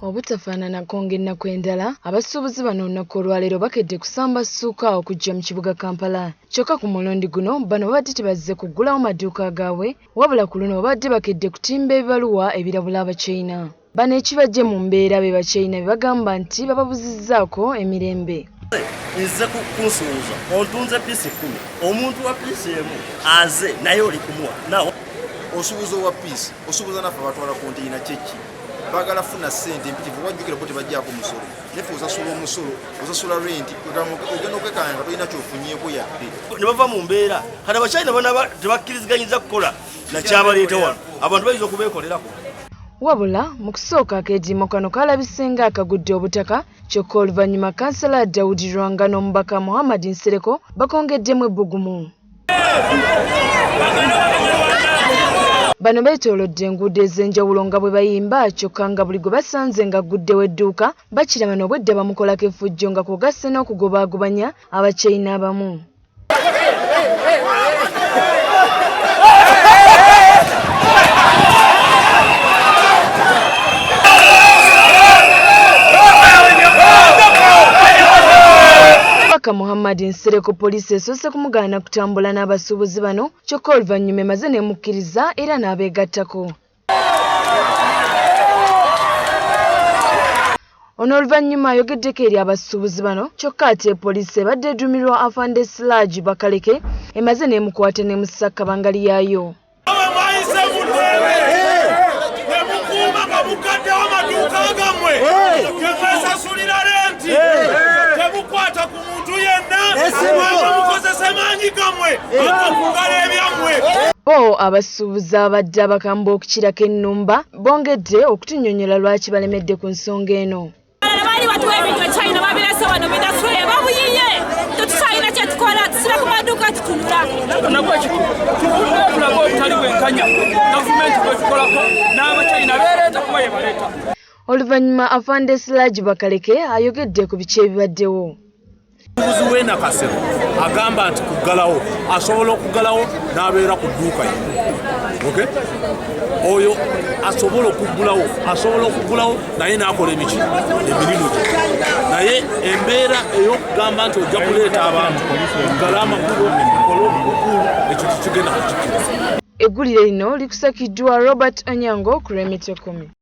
obutafaananako ng'ennaku endala abasuubuzi bano olunaku olwaleero bakedde kusamba ssuuka okujja mu kibuga kampala kyokka ku mulundi guno bano babadde tebazze kuggulawo maduuka gaabwe wabula ku luno babadde bakedde kutimba ebibaluwa ebirabula abachina Bano ekibajje mu mbeera be bakyeyina be bagamba nti bababuzizzaako emirembe. Nze kunsuuza ontunze piisi kkumi omuntu wa piisi emu aze naye oli kumuwa nawo osubuza owa piisi osubuza naffe batwala konteyina kyeki bagala funa sente mpitivu wajjukira bo tebajjako musolo nefe osasula omusolo osasula renti ogenda okwekanya nga tolina kyofunyeko yadde ne bava mu mbeera kati abakyalina bana tebakkiriziganyiza kukola nakyabaleeta wano abantu bayinza okubeekolerako Wabula mu kusooka akeediimo kano kaalabise nga akagudde obutaka kyokka oluvannyuma kansala Daudi Lwanga n'omubaka Muhammad Nsereko bakongeddemu ebbugumu. Bano beetoolodde enguudo ez'enjawulo nga bwe bayimba kyokka nga buli gwe basanze ng'agguddewo edduuka bakiraba n'obwedda bamukolako effujjo nga kw'ogasse n'okugobaagobanya abakyeyi n'abamu. Kabaka Muhammad Nsereko poliisi esoose kumugaana kutambula n'abasuubuzi bano kyokka oluvannyuma emaze n'emukkiriza era n'abeegattako. ono oluvannyuma ayogeddeko eri abasuubuzi bano kyokka ate poliisi ebadde eduumirwa afande silagi bakaleke emaze n'emukwata n'emussa kabangali yaayo temukwata ku Bo abasuubuzi abadde abakambwe okukirako ennumba bongedde okutunyonyola lwaki balemedde ku nsonga eno. Oluvannyuma Afande Siraji Bakaleke ayogedde ku biki ebibaddewo. Omuguzi w'e Nakasero agamba nti kuggalawo asobola okuggalawo n'abeera ku dduuka ye okay? oyo asobola okuggulawo asobola okuggulawo naye n'akola emiki emirimu gye naye embeera ey'okugamba nti ojja kuleeta abantu oggala amakubo okola obukulu ekyo kikigenda kukikira eggulire lino likusakiddwa robert onyango ku lw'emitekomi